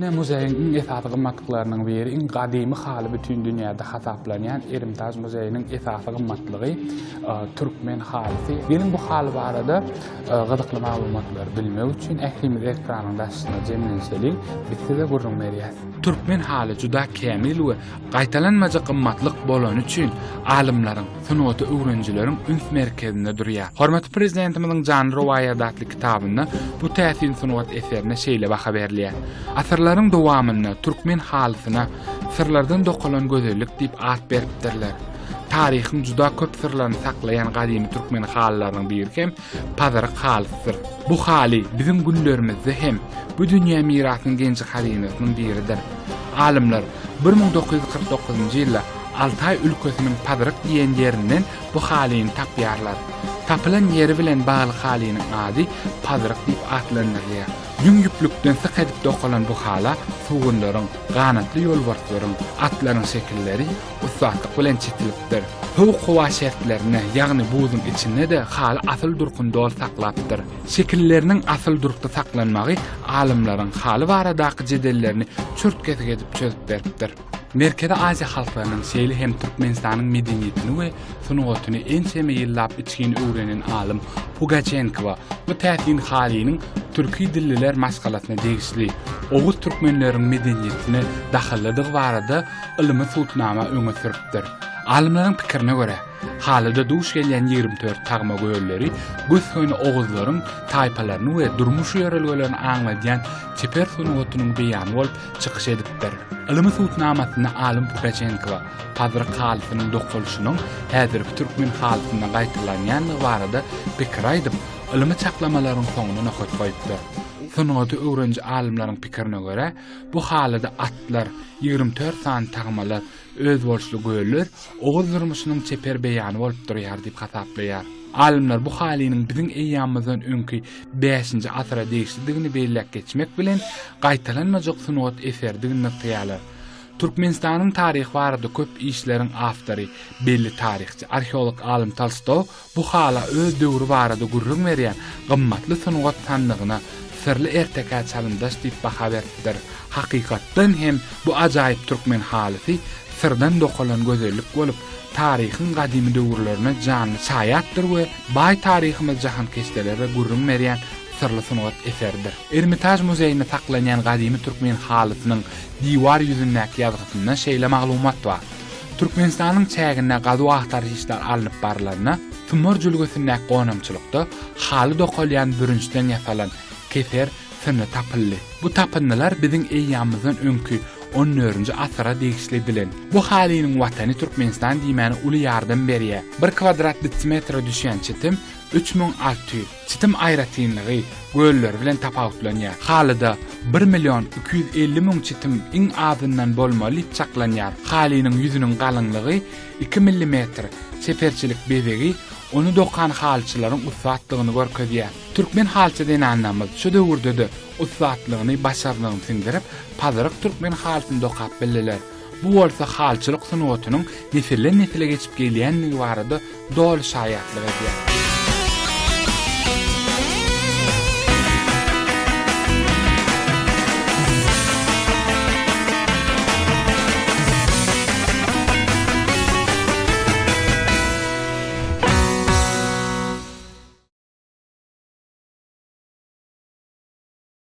Ine, muzeýiň iň esasy gymmatlyklarynyň biri, iň gadymy haly bütin dünýäde hasaplanýan Erimtaž muzeýiniň esasy gymmatlygy, türkmen halysy. Geliň, bu haly barada gyzykly maglumatlary bilmek üçin, ählimiz ekranyň daşyna jemlenşeliň, biz size gürrüň berýäs. Türkmen haly juda kämil we gaýtalanmajak gymmatlyk bolany üçin, alymlaryň, sungaty öwrenijileriň üns merkezinde durýar. Hormatly Prezidentimiziň Janly rowaýat atly Kitabynda bu täsin sungat eserine şeýle baha berilýär, Asyrlaryň dowamynda türkmen halysyna Syrlardan dokalan gözellik diýip at beripdirler. Taryhyň juda köp syrlaryny saklaýan gadymy türkmen halylarynyň biri hem pazyryk halysydyr. Bu haly biziň günlerimizde hem bu dünýä mirasynyň genji-hazynasynyň biridir. Alymlar bir müň dokuz ýüz kyrk dokuzynjy ýylda Altaý ülkesiniň Pazyryk diýen ýerinden Bu halyny tapýarlar. Tapylan ýeri bilen bagly halynyň ady pazyryk diýip atlandyrylýar. Ýüň ýüplükden syk edip dokalan bu hala sugunlaryň, ganatly ýolbarslaryň, atlaryň şekilleri ussatlyk bilen çitilipdir. Sowuk howa şertlerinde, ýagny buzuň içinde-de haly asyl durkuny doly saklapdyr. Şekilleriniň asyl durkda saklanmagy alymlaryň haly baradaky jedellerini çürt-kesik edip çözüp beripdir. Merkezi Aziýa halklarynyň, şeýle hem Türkmenistanyň medeniýetini we sungatyny ençeme ýyllap içgin öwrenen alym Pugaçenkowa bu täsin halynyň türki dilliler maşgalasyna degişli, oguz türkmenleriniň medeniýetine dahyllydygy barada ylmy subutnama öňe sürüpdir. Alymlaryň pikirine görä, halyda duş gelýän ýigrimi dört tagma gölleri gös-göni oguzlaryň taýpalaryny we durmuş ýörelgelerini aňladýan çeper sungatynyň beýany bolup, çykyş edipdir. Ylymy subutnamasynda alym Pugaçenko pazyr halysynyň dokalyşynyň häzirki türkmen halysynda gaýtalanýandygy barada pikir aýdyp, ylymy çaklamalaryň soňuna nokat goýupdyr. Sungaty öwreniji alymlaryň pikirine görä, bu halyda atlar, ýigrimi dört sany tagmalar, Özboluşly göller oguz durmuşynyň çeper beýany bolup durýar diýip hasaplaýar. Alymlar bu halynyň biziň eýýamymyzdan öňki bäşinji asyra degişlidigini belläp geçmek bilen, gaýtalanmajak sungat eseridigini nygtaýarlar. Türkmenistanyň taryhy barada köp işleriň awtory, belli taryhçy, arheolog alym Tolstoý Bu hala öz döwri barada gürrüň berýän Gymmatly sungat sandygyna Syrly ertekä çalymdaş diýip baha beripdir. Hakykatdan hem bu ajaýyp türkmen halysy syrdan dokalan gözellik bolup, taryhyň gadymy döwürlerine janly şaýatdyr we baý taryhymyz jahankeşdelere gürrüň berýän syrly sungat eseridir. Ermitaž muzeýinde saklanýan gadymy türkmen halysynyň diwar ýüzündäki ýazgysynda şeýle maglumat bar. Türkmenistanyň çäginde gazuw-agtaryş işleri alnyp barylanda, Symor jülgesindäki gonamçylykda haly dokalýan bürünçden ýasalan keser synly tapyldy. Bu tapyndylar biziň eýýamymyzdan öňki on dördünji asyra degişli bilen. Bu halynyň watany Türkmenistan diýmäne uly ýardam berýär. Bir kwadrat detsimetre düşýän çitim üç müň alty ýüz. Çitim aýratynlygy gölleri bilen tapawutlanýar. Halyda bir million iki ýüz elli müň çitim iň azyndan bolmaly diýip çaklanýar. Halynyň ýüzüniň galyňlygy iki millimetr, çeperçilik bezegi ony dokan halyçylaryň ussatdygyny görkezýär. Türkmen halyçy zenanlarymyz şu döwürde-de ussatlygyny, başarnygyny siňdirip, pazyryk türkmen halysyny dokap bildiler. Bu bolsa halçylyk sungatynyň nesilden-nesile geçip gelýändigi barada doly şaýatlyk edýär.